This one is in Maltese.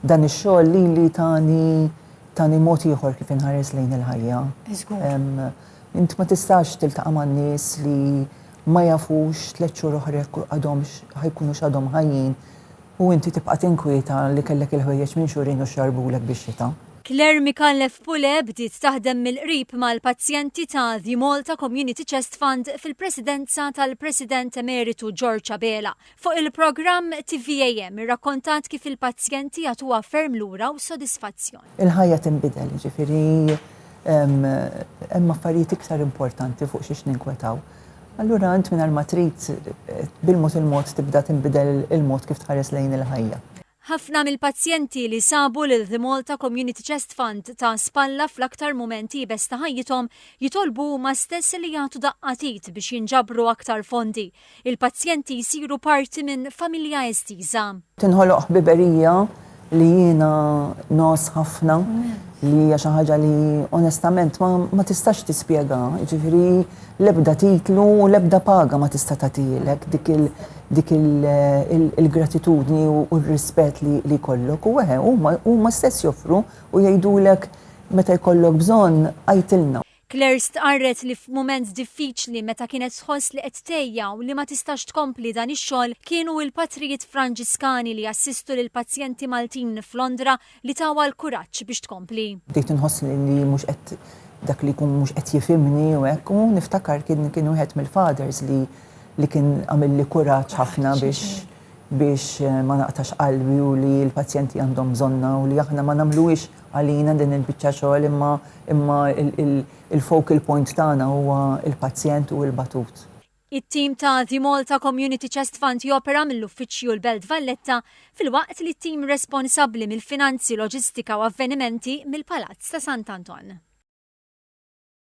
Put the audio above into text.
Dan ix-xogħol lili tani tani mod ieħor kif inħares lejn il-ħajja. Int ma tistax tiltaqa' man-nies li ma jafux tliet xhur oħra għadhomx ħajkunu x'għadhom ħajjin u inti tibqa' tinkwieta li kellek il-ħwejjeġ minn xhurejn u xxarbulek bix-xita. Claire Micallef Pule bdiet taħdem mill-qrib mal-pazjenti ta' The Malta Community Chest Fund fil-presidenza tal-President Emeritu George Abela. Fuq il-programm TVAM irrakkontat kif il-pazjenti jagħtuha ferm lura u sodisfazzjon. Il-ħajja tinbidel, jiġifieri hemm affarijiet iktar importanti fuq xiex ninkwetaw. Allura int mingħajr ma trid bil-mod il-mod tibda tinbidel il-mod kif tħares lejn il-ħajja. Ħafna mill-pazjenti li sabu lil The Malta Community Chest Fund ta' spalla fl-aktar mument iebes ta' ħajjithom jitolbu huma stess li jagħtu daqqa t'id biex jinġabru aktar fondi. Il-pazjenti jsiru parti minn familja estiża. Tinħoloq ħbiberija li jiena ngħożż ħafna li hija xi ħaġa li onestament ma tistax tispjega. Jiġifieri l-ebda titlu u l-ebda paga ma tista' tagħtilek dik dik il-gratitudni u r-rispett li jkollok u eħe huma stess joffru u jgħidulek meta jkollok bżonn għajtilna. Claire stqarret li f'mument diffiċli meta kienet tħoss li qed tgħejja u li ma tistax tkompli dan ix-xogħol kienu l-Patrijiet Franġiskani li jassistu lill-pazjenti Maltin f'Londra li tawha l-kuraġġ biex tkompli. Bdejt inħoss li mhux qed dak li jkun mhux qed jifhimni u hekk u niftakar kien kien wieħed mill-fathers li li kien għamilli kuraġġ ħafna biex biex eh, ma naqtax qalbi u li l-pazjenti għandhom bżonna u li aħna ma nagħmluhiex għalina din il-biċċa xogħol imma imma il-focal point tagħna huwa il-pazjent u l-batut. It-tim ta' The Malta Community Chest Fund jopera mill-Uffiċċju l-Belt Valletta filwaqt li t-tim responsabbli mill-finanzi, loġistika u avvenimenti mill-Palazz ta' Sant'Anton.